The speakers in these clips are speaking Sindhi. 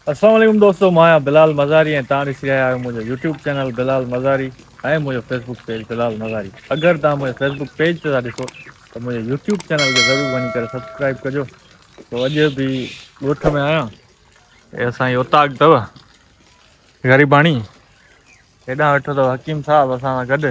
السلام عليڪم دوستو مان آهيان بلال مزاري ۽ توهان ڏسي رهيا آهيو منهنجو يوٽيوب چينل بلال مزاري ۽ منهنجو فيسبوڪ پيج بلال مزاري اگر توهان منهنجي فيسبوڪ پيج تي ٿا ڏسو ته منهنجي يوٽيوب چينل کي ضرور وڃي ڪري سبسڪرائب ڪجو تو اڄ به ڳوٺ ۾ آهيان هي اسان جي اوطاق اٿو غريباڻي هيڏانهن ويٺو اٿو حڪيم صاحب اسان سان گڏ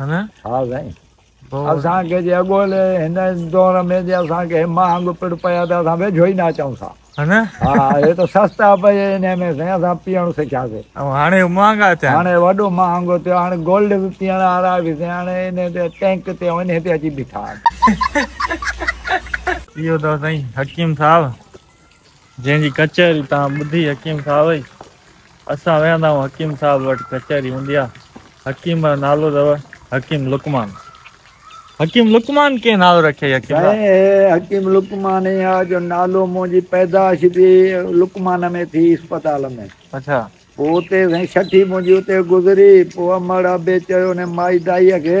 ها سائين اسان کي جي اڳولي هن دور ۾ جي اسان کي مهانگ پڙ پيا ته اسان ويجهو ئي نه اچون سا ها هي ته سستا پئي انهي ۾ سائين اسان پيئڻ سکياسي ۽ هاڻي مهانگا ٿيا هاڻي وڏو مهانگو ٿيو هاڻي گولڊ به پيئڻ وارا به سائين هاڻي انهي تي ٽينڪ تي انهي تي اچي بيٺا آهن اهو اٿو سائين حڪيم صاحب جنهن جي ڪچهري توهان ٻڌي حڪيم صاحب ئي اسان ويهندا آهيون حڪيم صاحب وٽ ڪچهري هوندي آهي حڪيم جو نالو اٿو حڪيم لقمان حڪيم لقمان ڪنهن نالو رکيو حڪيم صاحب سائين هي حڪيم لقمان ئي آهي جو نالو منهنجي پيدائش به لقمان ۾ ٿي اسپتال ۾ اڇا پوء اتي سائين ڇٺي منهنجي اتي گذري پوء امڙ ابي چيو انهي مائي دائيء کي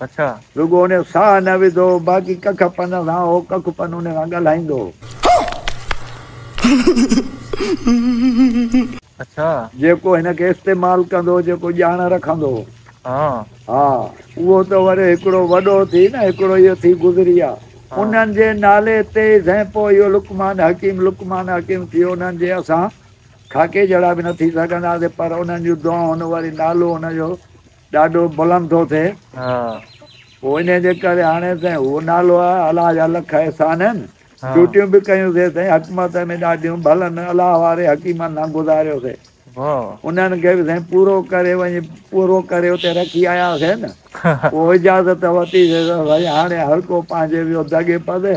اڇا. رڳو ان جو ساهه نه وڌو هو، باقي ڪک پن سان هو، ڪک پن ان سان ڳالهائيندو هو. اڇا. جيڪو هن کي استعمال ڪندو هو، جيڪو ڄاڻ رکندو هو. ها. ها. اهو ته وري هڪڙو وڏو ٿي نه، هڪڙو اهو ٿي گذري آ. انهن جي نالي تي ئي سائين پوء اهو لقمان حڪيم، لقمان حڪيم ٿيو. انهن جي اسان خاڪي جهڙا به نه ٿي سگهنداسين، پر انهن جون دعائون، وري نالو ان جو ڏاڍو بلند ٿو ٿئي پوء ان جي ڪري هاڻي سائين اهو نالو آهي الله جا لک احسان آهن ڊيوٽيون به ڪيون سي سائين حڪمت ۾ ڏاڍيون ڀلن الله واري حڪيمن سان گذاريو سي انهن کي به سائين پورو ڪري وڃي پورو ڪري اتي رکي آيا سي نه پوء اجازت ورتي سي سائين هاڻي هر ڪو پنهنجي ويو دڳي پدي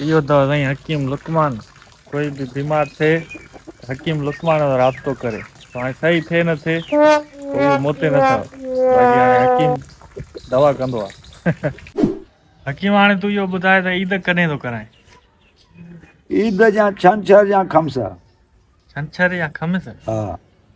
اهو ته سائين حڪيم لقمان ڪوئي به بيمار ٿئي حڪيم لقمان سان رابطو ڪري پوء هاڻي صحيح ٿئي نه ٿئي پوء اهو مون تي نه ٿئو باقي هاڻي حڪيم دوا ڪندو آ حڪيم هاڻي تون اهو ٻڌاء ته عيد ڪڏهن ٿو ڪرائين؟ عيد جا ڇنڇر يا خمس ڇنڇر يا خمس؟ ها